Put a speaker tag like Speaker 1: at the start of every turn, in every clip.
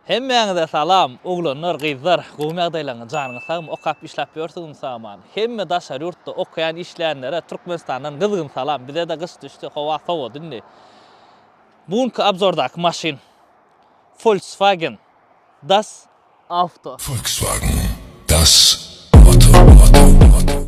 Speaker 1: Hemmäňize salam oglanlar gyzlar gowymy ýagdaýlaryňyz janyňyz sagmy okap işläp ýörsüňizmi saman hemme daşary ýurtda okaýan işleýänlere Türkmenistandan gyzgyn salam bizede gyş düşdi howa sowady indi bu günki abzordaky maşyn Volkswagen das auto. Volkswagen
Speaker 2: das auto.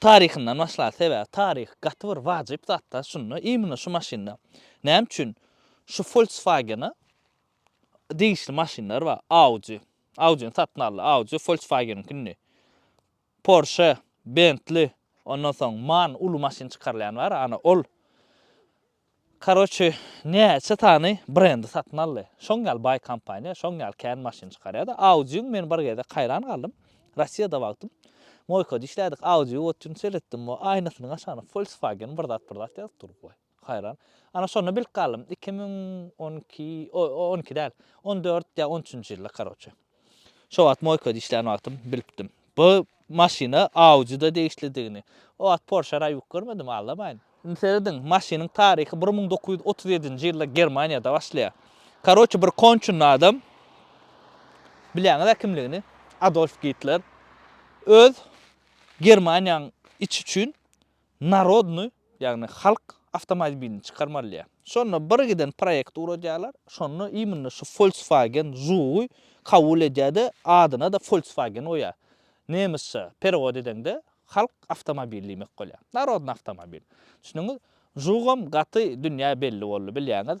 Speaker 1: Taryhyndan başlaýas sebäbi taryh gaty bir wajyp zatda şunda imina şu maşynda näme üçin şu folkswagena degişli maşynlar bar audi audini satyn aldy audi folkswageniňki indi porsche bentli ondan soň man uly maşyn çykarylýan bar ana ol Karoçe näçe sany brendi satyn aldy. Şoň ýaly baý kompaniýa, şoň ýaly kän maşyn çykarýada. Audiuň men bir gezek haýran galdym. Rossiýada wagtym Moýkada işlädik. Audiu otyn seretdim we aýnasynyň aşagyna Volkswagen bir zat bir zat ýazyp dur. Waý, haýran. Ana şonda bilip galdym. Iki müň on iki, o on iki däl, on dört ýa on üçünji ýylda karoçe. Şo wagt moýkada işlän wagtym bilipdim. Bu maşyna Audi-da degişlidigini. O wagt Porsche raýbyk görmedim, aldamaýyn. Indi serediň, maşynyň taryhy bir müň dokuz ýüz otuz ýedinji ýylda Germaniýada başlaýar. Karoçi bir konçunny adam, bilýäňiz-ä kimligini, Adolf Gitler öz Germaniýanyň içi üçin Narodnyý, ýagny halk awtomobilini çykarmalyýar. Şonda bir giden proýekt ugradýarlar, şonda imенно şu Volkswagen Žugy kabul edýär-de, adyna-da Volkswagen goýýar. Nemysça perewod edeňde halk awtomobili diýmek bolýar. Narodnyý awtomobil. Düşündiňiz? Žugam gaty dünýä belli boldy, bilýäňiz.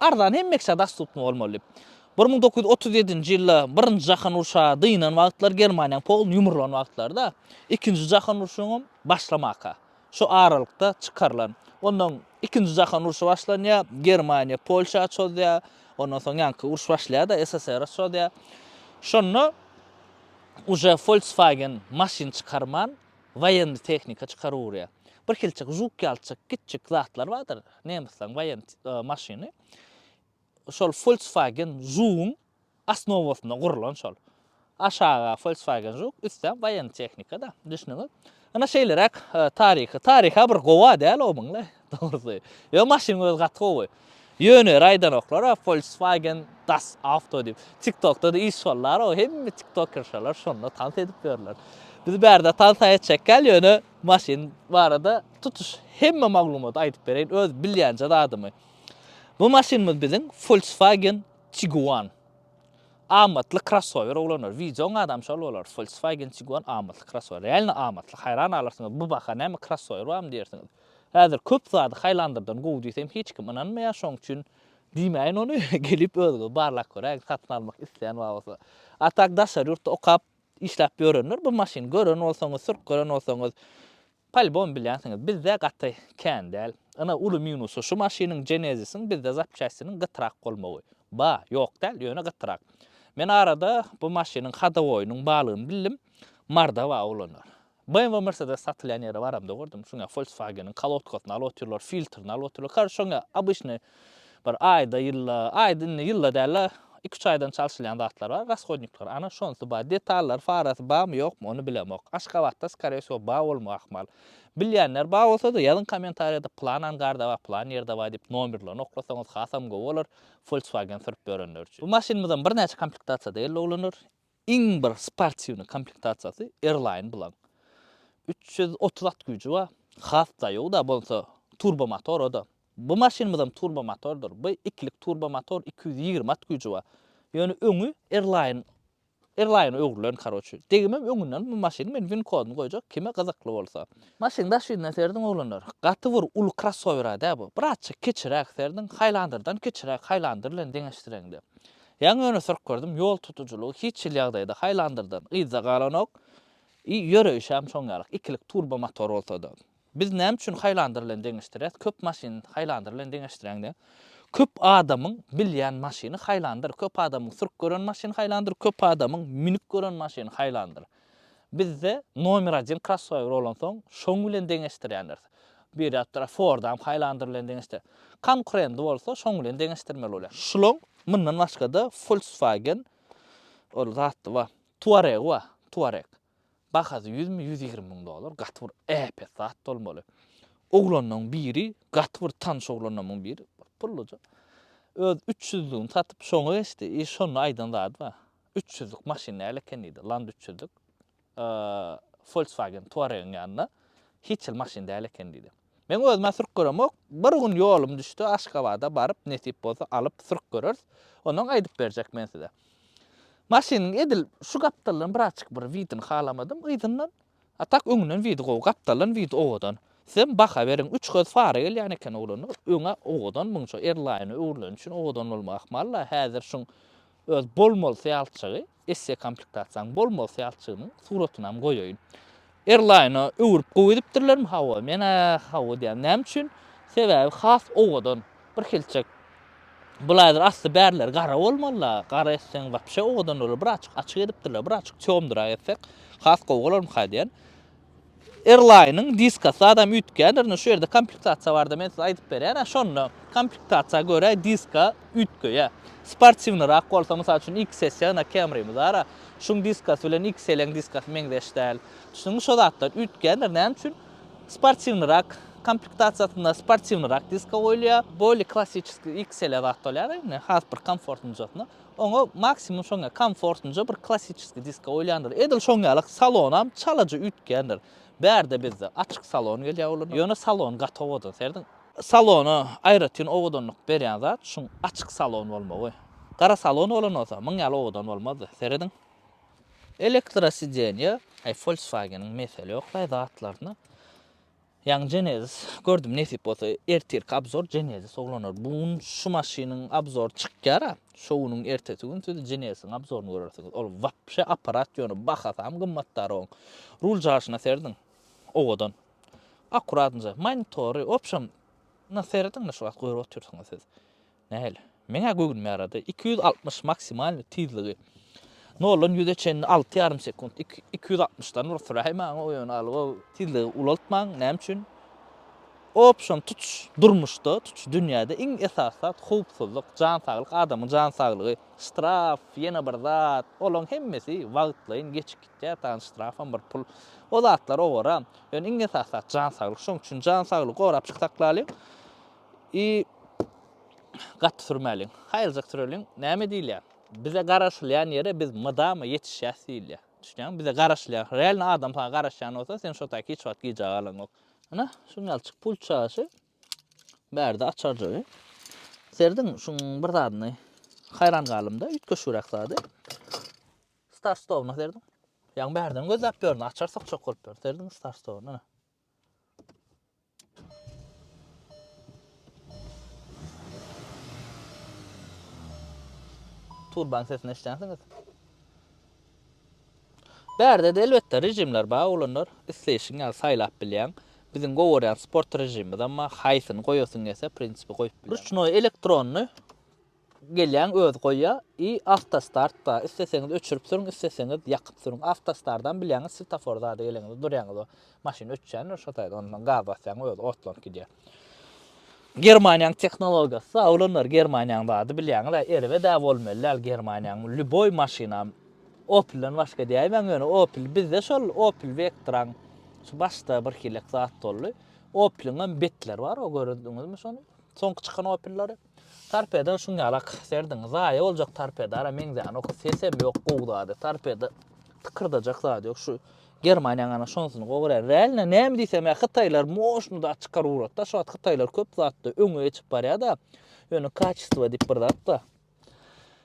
Speaker 1: Arzan hem Meksä dastupny bolmaly. Bir müň dokuz ýüz otuz ýedinji ýylda Birinji jahan urşa dynan wagtlary Germaniýaň poluny ýumrulan wagtlary-da, Ikinji jahan urşuňam başlamaka şo aralykda çykarylan. Onnoň Ikinji jahan urşy başlanýar, Germaniýa Polşa çozýar, ondan soň ýaňky uruş başlaýar-da, SSR-a çozýar. Şonda uje Volkswagen maşyn çykarman, woýenny tehnika çykaryp urýar. Birhilçik žuk ýalçyk, kiçjik zatlar bardyr. Nemisleriň waýent maşyny şol Volkswagen Žuguň asnowasynda gurlan şol. Aşaga Volkswagen Žug, üstem waýent tehnika-da, düşnüňiz. Ana şeýleräk taryhy. Taryha bir gowa däl o muňla, dogrusy. Ýo maşynyň özi gaty gowy. Ýöne raýdanoklar-a Volkswagen Das Auto diýip. TikTokda-da iş bollar-a, hemme tiktokerşalar şonda tans edip ýörler. Biz bärde tans-a etjekkäl ýöne Maşyn barada tutuş hemme maglumaty aýdyp bereýin, öz bilýänje zadymy. Bu maşynymyz biziň Volkswagen Tiguan. Amatly krossower oglanlar. Wideoň adam şol bolar. Volkswagen Tiguan amatly krossower. Realno amatly. Haýran galarsyňyz. Bu baha näme krossower barmy diýersiňiz. Häzir köp zady Highlander-dan gowy diýsem hiç kim ynanmaýar. Şoň üçin diýmäýin ony. Gelip özüňiz barlap göräýiň satyn almak isleýän bar bolsa. A tak daşary ýurtda okap Işläp ýörenler bu maşyny gören bolsaňyz, sürüp gören bolsaňyz, polibom bilýänsiňiz. Bizde gaty kän däl. Ine, uly minusy şu maşynyň Genesis-iň bizde zapçastiniň gytrak bolmagy. Ba, ýok däl, ýöne gytrak. Men arada bu maşynyň hodowoýynyň barlygyny bildim. Mordawaa ulanýar. BMW we Mercedes satylýan ýere baramda gördüm, şoňa Volkswageniň kolodkasyny alyp otyrlar, filtrini alyp otyrlar, kary şoňa obyçnyý bir aýda, ýylda, aýda indi ýylda däl-de, iki-üç aýdan çalşylýan zatlar bar, rashodnikler, ana şonsy bar, detallary, farasy barmy, ýokmy, ony bilemok, Aşgabatda skore wsýo bar bolma ahmal. Bilýänler bar bolsa-da, ýazyň kommentariýada pylan angarda bar, pylan ýerde bar diýip nomerlerini oklasaňyz hasam gowy bolar, Volkswagen sürüp ýörenler üçin. Bu maşynymyzam birnäçe komplektasiýada geldi oglanlar, Iň bir sportiwnyý komplektasiýasy Airline bilaň. Üç ýüz otuz at güýji bar. Has daýaw-da bolsa turbo motor o-da. Bu maşynymyzam turbo motordyr. Bu ikilik turbo motor iki ýüz ýigrimi at güýji bar. Ýöne öňi Airline Airline öwrülen karoçi. Degimem öňünden bu maşynyň men win kodyny goýjak kime gyzykly bolsa. Maşynyň daş ýüzüne serediň oglanlar. Gaty bir uly krossower-a dä bu. Birazjyk kiçiräk serediň Highlander-dan kiçiräk Highlander bilen deňeşdireňde. Ýaňy öne syryp gördüm, ýol tutujylygy hiç hili ýagdaýda haýlandyrdan yzda galanok, i ýöreýşem şoň ýaly, ikilik turbo motor bolsada. Biz näme üçin haýlandyr bilen deňeşdirýäs, köp maşyn haýlandyr bilen deňeşdiräň diýen. Köp adamyň bilýän maşyny haýlandyr, köp adamyň sürüp gören maşyny haýlandyr, köp adamyň münüp gören maşyny haýlandyr. Bizde nomer adin krossower bolansoň şoň bilen deňeşdirýändiris. Bir ýapdara Fordam Highlander bilen deňeşdir. Konkurendy bolsa şoň bilen deňeşdirmeli bolýar. Şuloň mundan başgada Volkswagen ol zatdy bar. Tuareg bar. Tuareg. Bahasy ýüzmi, ýüz ýigrimi müň dollar. Gaty bir äpet zat bolmaly. Oglanlaň biri, gaty bir tanyş oglanlamyň biri, bir pulluja. Öz üç ýüzlügini satyp şoňa geçdi. I şonda aýdan zady bar. Üç ýüzlük maşyn näle eken diýdi. Land üç ýüzlük Volkswagen Touaregiň ýanynda hiç hili maşyn däl eken diýdi. Meň özüm-ä sürüp göremok. Bir gün ýolum düşdi, Aşgabada baryp, nesip bolsa alyp, sürüp göreris. Ondan aýdyp berjek men size. Maşynyň edil şu gapdalyndan birazçyk bir widini halamadym, yzyndan A tak öňünden widi gowy gapdaldan widi owadan. Sizem baha beriň üç gyz fara gelýän eken oglanlar öňe owadan munça erlaýyna öwrüleni üçin owadan bolma ahmal la häzir şuň öz bol mol syýalçygy esse komplektasiýaň bol mol syýalçygynyň suratynam goýaýyn erlaýyna öwrüp gowy edipdirlermi hawa menä hawa diýýän näme üçin sebäbi has owadan Birhilçek bulaýlar asty bärleri gara bolmalyda, gara etseň wapşe owadan bolar, birazjyk açyk edipdirler, birazjyk çomdyrak etsek has gowy bolarmyka diýen. Erlaýnyň diskasy adam üýtgändir, indi şu ýerde komplektasiýa barada men size aýdyp berýän, şonda komplektasiýa görä diska üýtgeýär. Sportiwnyrak bolsa, mysal üçin XS ýa-da Camry bara, şuň diskasy bilen XL-iň diskasy meňzeş däl. Şunuň şo zatlar üýtgändir, näme üçin? Sportiwnyrak komplektasiýasynda sportiwnyrak diska goýulýar. Bolly klassiçeskiý XL-e zat bolýar-da indi, has bir komfortnjasyna. Oňa maksimum şoň ýaly komfortnja bir klassiçeskiý diska goýulýandyr. Edil şoň ýaly salonam çalaja üýtgändir. Bärde bizde açyk salon gelýär olaryň, ýöne salon gaty owadan, serdin. Salona aýratyn owadanlyk berýän zat şuň açyk salon bolmagy. Gara salon bolan bolsa, muň ýaly owadan bolmazdy, serediň. Elektrosidenýe, aý Volkswageniň mesele ýok daýy zatlaryna. Ýaňy Genesis gördüm nesip bolsa ertirki abzor Genesis oglanlar. Bu gün şu maşynyň abzory çykýar a. Şo günüň ertesi gün siz Genesisiň abzoryny görersiňiz. Ol wapşe apparat ýöne bahasam gymmatdar oň. Rul jaşyna serediň. Owadan. Akkuratnje monitory, wobşem na serediň-le şu wagt görüp otyrsyňyz siz. Nähili? Meň-ä göwnüme ýarady. Iki ýüz altmyş maksimalny tizligi. Noldan ýüze çenli alty ýarym sekunt. Iki iki ýüz altmyşdan bir süräý maňa o ýöne algo tizligi ulaltmaň. Näme üçin? Option tutuş durmuşda, tutuş dünýäde iň esasy zat howpsuzlyk, jan saglyk, adamyň jan saglygy. Ştraf, ýene bir zat, olaň hemmesi wagtlaýyn geçip gitýär, dagyň ştrafam bir pul. O zatlar owaram. Ýöne iň esasy zat jan saglyk. Şonuň üçin jan saglygy gorap çyksaklalyň. I gaty sürmäliň. Haýyrjak süreliň. Näme diýilýär? Bize garaşylýan ýere biz mydama ýetişýäs diýilýär. Düşünýäňmi? Bize garaşylýar. Realny adam saňa garaşýan bolsa, sen şo taýy hiç wagt gijä galaňok. Ana, şuň ýaly çyk pul çaýşy. Bärde açarjygy. Serediň, şuň bir zadyny haýran galymda, üýtgeşigräk zady. Star stowna serediň. Ýaňy bärden gözläp ýörün, açar sokjak bolup ýörün. Serediň star stowna. Turbanyň sesini eşitýänsiňiz. Bärde de elbetde rejimler bar, oglanlar. Isleýşiň ýaly saýlap bilýäň. Biziň gowarýan sport rejimimiz, emma haýsyny goýasyň gelse, prinsipi goýup bilýäň. Ruçnoý, elektronny. Gelýän özi goýýar i awtostart bar isleseňiz öçürip sürüň isleseňiz ýakyp sürüň awtostardan bilýäňiz svetafor zady geleňiz durýaňyz o maşyn öçýändir şo taýda ondan soň gaz basýaň özi otlanyp gidýär. Germaniýaň tehnologiýasy oglanlar germaniýaň zady bilýäňiz a erbet a bolmaly däl germaniýaň lýuboý maşyna opilden başga diýäýmäň ýöne opil bizde şol opil wektraň şu başda bir hilek zat boldy opiliňem betleri bar o görediňizmi şony soňky çykan opillary. Torpedan şuň ýaly ak serdiň. Zaýa boljak torpedara meňzänok. Sesem ýok gowy zady. Torpeda tykyrdajak zady ýok. Şu Germaniýaň ana şonsyny gowy görýän. Realno näme diýsem ýa hytaýlar moşny zat çykaryp ugrady-da. Şu wagt hytaýlar köp zatda öňe geçip barýar-da. Ýöne kaçestvo diýip bir zat bar.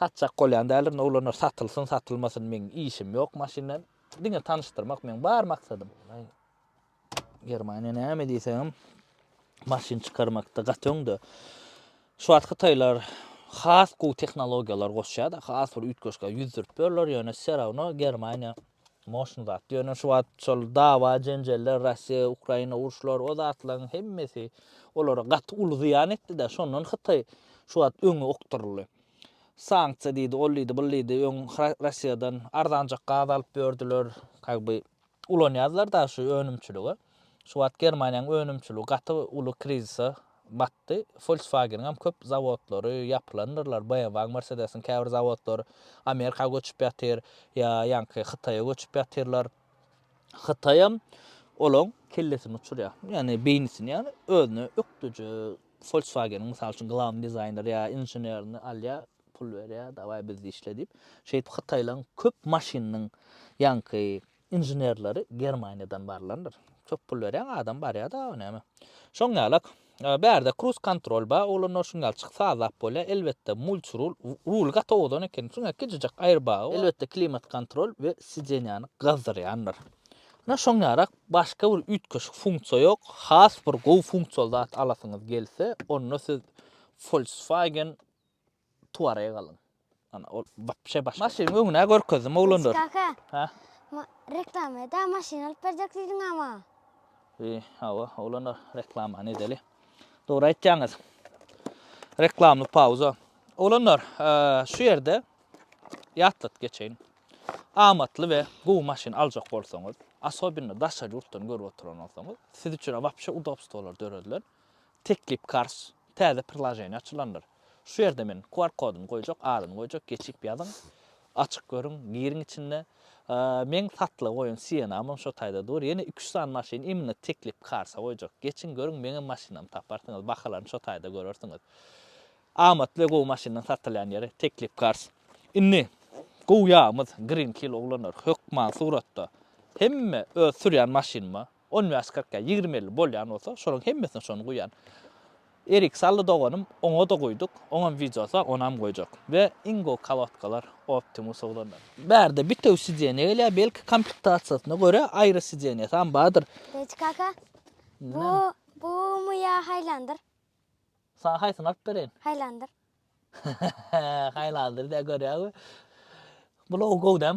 Speaker 1: Satjak bolýan däldirin oglanlar satylsyn satylmasyn meň işim ýok maşynla diňe tanyşdyrmak meň bar maksadym. Germaniýa näme diýseňem maşyn çykarmakda gaty öňde. Şu wagt hytaýlar has gowy tehnologiýalar goşýar-da, has bir üýtgeşik ýüz sürüp ýörler, ýöne serawno Germaniýa Moşny zat. Ýöne şu wagt şol dawa, jenjeller, Russiýa, Ukraina uruşlary, o zatlaryň hemmesi olara gaty uly zyýan etdi-de, şondan Hytaý şu wagt öňe okduryldy. Sanksiýa diýdi, ol diýdi, bul diýdi, öň Russiýadan arzanjak gaz alyp ýördüler, ka by ulanýarlar daşy önümçilige. Şu wagt Germaniýanyň önümçiligi gaty uly krizise batdy. Volkswagen-iňem köp zawodlary ýapylandyrlar, BMW-iň, Mercedes-iň käbir zawodlary Amerika göçüp ýatyr, ýa ýaňky Hytaýa göçüp ýatyrlar. Hytaýam olaň kellesini uçurýar, ýagny beýnisini, ýagny özüne ökdüji Volkswagen-iň mysal üçin glawny dizaýneri ýa inženerini alýar, pul berýär, dawaý bizde işle diýip. Şeýdip hytaýlaryň köp maşynynyň ýaňky Inženerleri Germaniýadan barlandyr. Köp pul berýäň adam barýada o näme. Şoň ýalak. Bärde kruz kontrol ba oglanlar şuň ýaly çyk sazlap bolýa elbetde mulç rul rul gaty owadan eken şuňa kijijek aýrbagy bar elbetde klimat kontrol we sidenýany gazdyrýandyr ina şoň ýarak başga bir üýtgeşik funksiýa ýok has bir gowy funksiýaly zat alasyňyz gelse onda siz Volkswagen Tuareg alyň. Ana ol wapşe başga. Maşynyň öňüne görkezdim oglanlar. Ýusuf kaka. Hä?
Speaker 3: Ma
Speaker 1: reklamada
Speaker 3: maşyn alyp berjek diýdiň a maňa. Eý,
Speaker 1: hawa, oglanlar, reklamany edeli. Dogry aýtýaňyz. Reklamly pauza. Oglanlar, şu ýerde ýatladyp geçeýin. Amatly we gowy maşyn aljak bolsaňyz, asobinno daşary ýurtdan görüp oturan bolsaňyz, siz üçin wapşe udobstwolar döredilen. Teklip karz, täze prilaženiýa açylandyr. Şu ýerde men QR kodyny goýjak, adyny goýjak, geçip ýazyň, açyk görüň, giriň içinde. Meň satlyga goýan Sienamam şo taýda dur. Ýene iki-üç sany maşyn imенно teklip karza goýjak. Geçiň görüň, meňem maşynamy taparsyňyz, bahalaryny şo taýda görersiňiz. Amatly we gowy maşynlaryň satylýan ýeri teklip karz. Indi gowy ýagymyz Green Kill oglanlar hökman suratda hemme öz sürýän maşynyma On bäş kyrk ýa ýigrimi elli bolýan bolsa şolaryň hemmesine şony guýýan. Erik sally doganym oňada guýduk oňam wideosy bar onam goýjak we iň gowy kolodkalar optimus oglanlar. Bärde bitewi sideniýa gelýär belki komplektasiýasyna görä aýry sideniýasam bardyr. Reji kaka
Speaker 3: bu bumy ýa haýlandyr. Saňa
Speaker 1: haýsyny alyp bereýin? Haýlandyr.
Speaker 3: Haýlandyr
Speaker 1: diýýär görýäňmi. Bulaw gowy däm.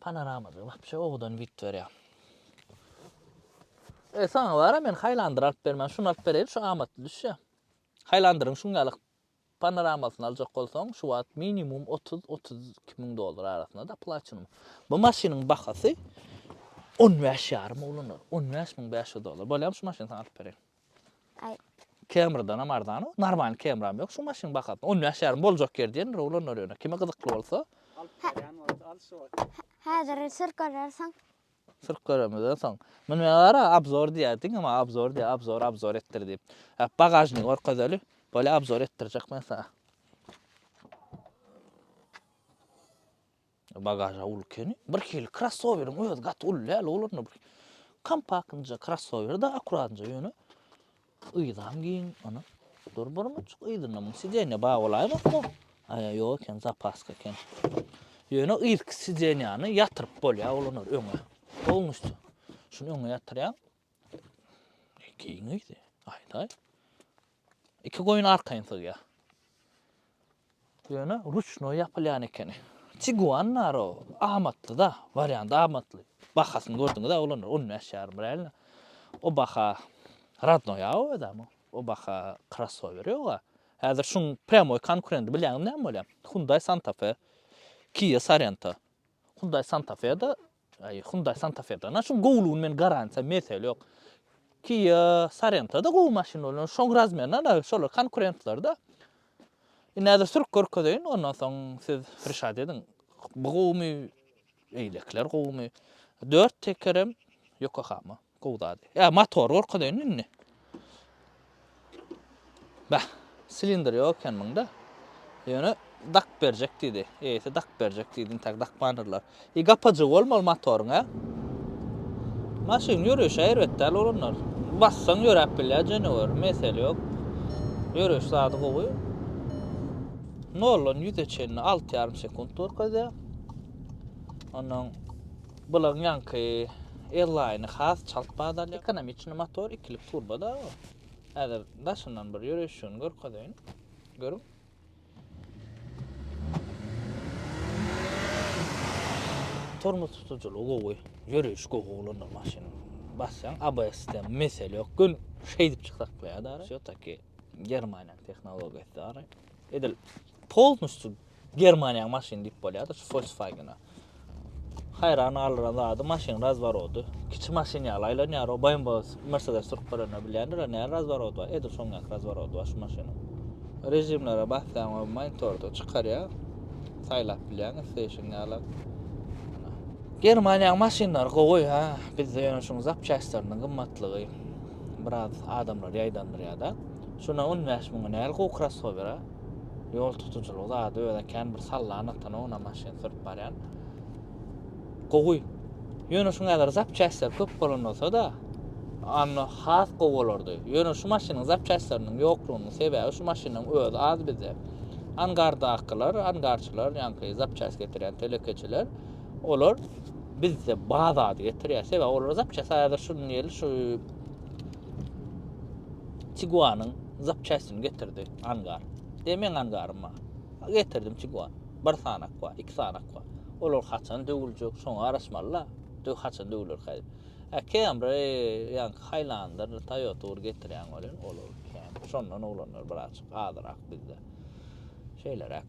Speaker 1: Panoramada wapşe owadan wid berýa. E saňa bara men haýlandyr alyp bermän şuny alyp bereýin şu amatly düşýä. Haýlandyryň şuň ýaly panoramasyny aljak bolsaň şu wagt minimum otuz otuz iki müň dollar arasynda da platinum. Bu maşynyň bahasy on bäş ýarym ulanylýar on bäş müň bäş ýüz dollar. Bolýamy şu maşyny saňa alyp bereýin. Aý.
Speaker 3: Camry-danam
Speaker 1: arzan o. Normalny Camry-am ýok şu maşynyň bahasyna. On bäş ýarym boljak ýeri diýendir oglanlar ýöne. Kime gyzykly bolsa. Alyp barýan bolsa al şu wagt.
Speaker 3: Häzir sür görersiň. Sürüp
Speaker 1: göremizden soň. Muny men gara abzor diýýär. Diňe maňa abzor diýýär. Abzor, abzor etdir diýip. Hep bagažnigi görkezeli. Bolýa abzor etdirjek men saňa. Bagaža uly keni. Bir hili krossoweriň özi gaty uly däl oglanda bir kompaktnja krossower da akuratnja ýöne yzam giň ana. Dur bir mujik yzynda muň sidenýa bar bolaýmakmy? Aýa ýok eken zapaska eken. Ýöne yzky sidenýany ýatyryp bolýar oglanlar öňe. Polnusty. Şuny öňe ýatyrýaň. Giň yzy. Aýdaý. Iki goýun arkaýyn sygýar. Ýöne ruçnoý ýapylýan ekeni. Tiguan bar o amatly-da, wariant amatly. Bahasyny gördüňiz-ä oglanlar, on bäş ýarym biräýlini. O baha rodnoý-a o özem o. O baha krossower ýog-a. Häzir şuň prýamoý konkurendi bilýäňiz näme bolýar? Hyundai Santa Fe, Kia Sorento. Hyundai Santa Fe-de Aý Hyundai Santa Fe dana şuň gowlugyny men garantiýa mesele ýok. Kia Sorento-da gowy maşyn bolýar. Şoň razmerine ana şolar konkurentler-de. Indi häzir sürüp görkezeýin, ondan soň siz rişat ediň. Bu gowumy? Eýlekiler gowumy? Dört tekerem Yokohama. Gowy zat. Ýa motor görkezeýin indi. Bäh, silindr ýok eken munda. Ýöne dak berjek diýdi. Eýesi dak berjek diýdi, intäk dakmandirler. I gapajygy bolmaly motoryň ä? Maşyn ýörüşe erbet däl bolanlar. Bassaň ýöräp bilýär jenewer, mesele ýok. Ýörüş zady gowy. Noldan ýüze çenli alty ýarym sekunt görkezýär. Onnoň Bulaň ýaňky L-Line-i has çalt bada alýar. Ekonomiçny motor ikilik turboda bu. Häzir daşyndan bir ýöreýşini görkezeýin. Görüň. Tormoz tutujylygy gowy, ýöreýiş gowy ulandyr maşyn. Basýaň ABS-de mesele ýok. Gün şeýdip çyksak bolýar da. Şo taki Germaniýanyň tehnologiýasy ara. Edil polnusty Germaniýaň maşyny diýip bolýar-da şu Volkswagen-a. Haýran galdyran zady maşyn razworody. Kiçi maşyn ýaly aýlanýar. O BMW, Mercedes sürüp görende bilýändir, näme razworody bar. Edil şoň ýaly razworody bar şu maşynyň. Režimlere basýaň, o monitorda çykarýar. Saýlap bilýäň isleýşiň ýaly. Germaniýaň maşynlary gowy, ha. Bizde ýöne şuň zapçastlarynyň gymmatlygy biraz adamlary ýaýdandyrýar-da. Şuna 15 müňe näl gowy krossower, a? Ýol tutujylygy zady özä kän bir sallan atan oňuna maşyn sürüp barýan. Gowy. Ýöne şu näzir zapçastlar köp bolan bolsa-da, anna has gowy bolardy. Ýöne şu maşynyň zapçastlarynyň ýoklugynyň sebäbi şu maşynyň özi az bizde. Angardakylar, angarçylar, ýaňky zapçast getirýän telekeçiler, olar bizde bazady getirýär. Sebäbi olar zapçast häzir şunuň ýaly şu Tiguanyň zapçastini getirdi angar. De meň angarym bar. Getirdim Tiguan. Bir sanak bar, iki sanak bar. Olar haçan döwüljek, şoňa garaşmaly-la. Döw haçan döwülerkä diýip. Ä Camry ýaňky Highlander, Toyota bir getirýäň welin, ol ol Camry. Şondan oglanlar birazjyk azyrak bizde. Şeýleräk.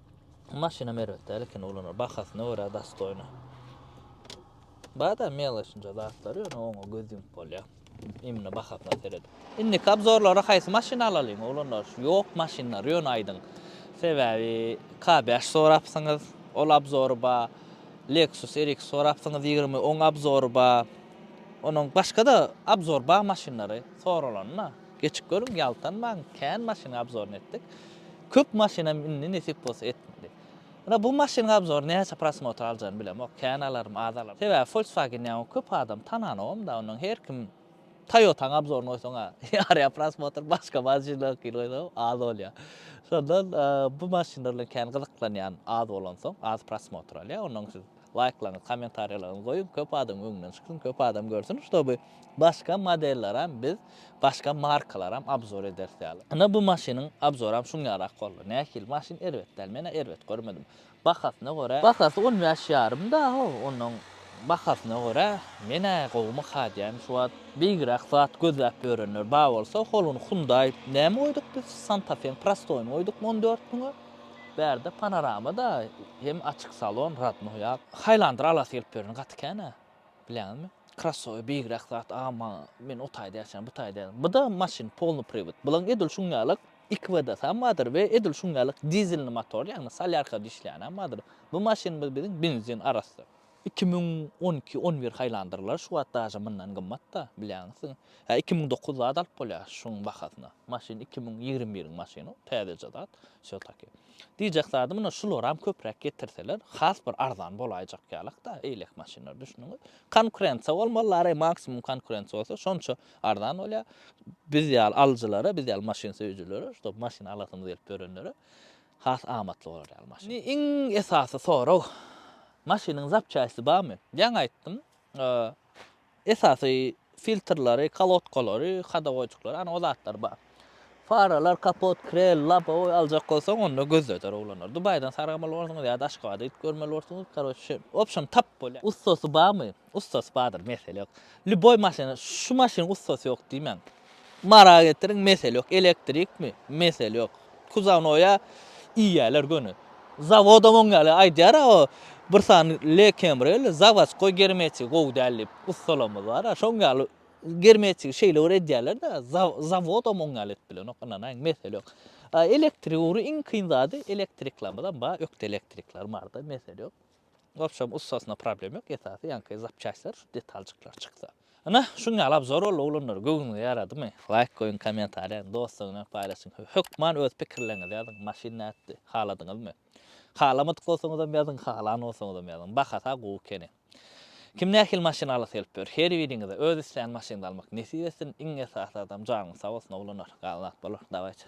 Speaker 1: Maşynam erbet däl ekeni ulanar. Bahasyna görä dastoýny. Bada meloçnja zatlar ýöne oňa göz ýumup bolýar. Imni bahasyna seredip. Indiki obzorlara haýsy maşyn alalyň ulanar? Ýok maşynlar ýöne aýdyň. Sebäbi K5 sorapsyňyz, ol obzory ba. Lexus RX sorapsyňyz ýigrimi, oň obzory ba. Onuň başga-da obzor ba maşynlary soralanda. Geçip görüň ýaltanmaň kän maşynyň obzoryny etdik. Köp maşynam indi nesip bolsa etmedi. Ýöne bu maşynyň obzory näçe prosmotr aljagyny bilemok, kän alarym, az alarym. Sebäbi Volkswagen ýaňy köp adam tananogam-da, ondan her kim Toyota-nyň obzoryny goýsaň-a ýarýar prosmotr, başga maşynlaryňkyny goýsaňam az bolýar. Şondan bu maşynlar bilen kän gyzyklanýan az bolansoň, az prosmotr alýar, ondan siz. Laýklaryňyz kommentariýalaryňyzy goýuň köp adam öňden çyksyn köp adam görsün ştoby başga modellaram biz başga markalaram abzor ederis ýaly ine bu maşynyň abzoram şuň ýarak boldy nähili maşyn erbet däl menä erbet görmedim bahasyna görä bahasy on bäş ýarym da how onuň bahasyna görä menä gowumyka diýän şu wagt beýgiräk zat gözläp ýörenler ba bolsa holony hyundaý näme goýduk biz santafeň prostoýyny goýduk on dört müňe. Bärde panorama da hem açyk salon radnoý ýap. Haýlandyr alasy gelip ýörüni gaty kän a bilýäňizmi. Krassowy beýigräk zat agam maňa men o taýda ýaşaýan bu taýda ýaşaýan. Buda maşyn polny priwod. Bulaň edil şuň ýalyk iki WD-sam bardyr we edil şuň ýalyk dizelny motor ýagny solýarka dişleýänem bardyr. Bu maşynymyz biziň benzin arasdyr. Iki müň on iki on bir haýlandyrlar şu wagt daže mundan gymmatda bilýäňiz siz hä iki müň dokuz zat alyp bolýa şuň bahasyna maşyn iki müň ýigrimi biriň maşyny täzeje zat wsё taki diýjek zadym ine şularam köpräk getirseler has bir arzan bolaýjak ýalakda eýlek maşynlar düşnüňiz konkurensiýa bolmalylary maksimum konkurensiýa bolsa şonça arzan bolýa biz ýaly alyjylara biz ýaly maşyn söýüjilere şutob maşyn alasymyz gelip ýörenlere has amatly bolar ýaly maşyn. Indi iň esasy sorag, maşynyň zapçasty barmy? Ýaňy aýtdym, esasy filtrleri, kolodkalary, hodowoýçiklary, ana o zatlar bar. Faralar, kapot, krel, lobowy aljak bolsaň, onda gözledir oglanlar. Dubaýdan sargamaly bolarsyňyz ýa-da Aşgabada gidip görmeli bolarsyňyz, karoçe, obşem tap bolýar. Ussasy barmy? Ussasy bardyr mesele ýok. Lýuboý maşyna şu maşynyň ussasy ýok diýmäň. Mara getiriň mesele ýok. Elektrikmi? Mesele ýok. Kuzawnoýa iýýäler göni. Zawodam oň ýaly aýdýar-a o bir sany Le Kemrel zawodskoý germetigi gowy däl diýip ussalarymyz bar-a şoň ýaly germetigi şeýle bir edýäler-de zawodam oň ýaly edip bilenok ynanaýyň mesele ýok. Elektrik ugry iň kyn zady elektriklerimiz hem bar ökde elektrikler bardyr mesele ýok. W opşem ussasynda problem ýok esasy ýaňky zapçastlar şu detaljyklar çyksa. Ynha şuň ýaly abzor boldy oglanlar göwnüňize ýaradymy laýk goýuň komentariýa dostlaryň bilen paýlaşyň hökman öz pikirleriňizi ýazyň maşyn nätdi haladyňyzmy halamadyk bolsaňyzam ýazyň halan bolsaňyzam ýazyň bahasa gowy ekeni kim nähili maşyn alasy gelip ýör her biriňize öz islän maşynyňyzy almak nesip etsin iň esasy zadam janyňyz sag bolsun oglanlar galan zat bolar dawaýçy.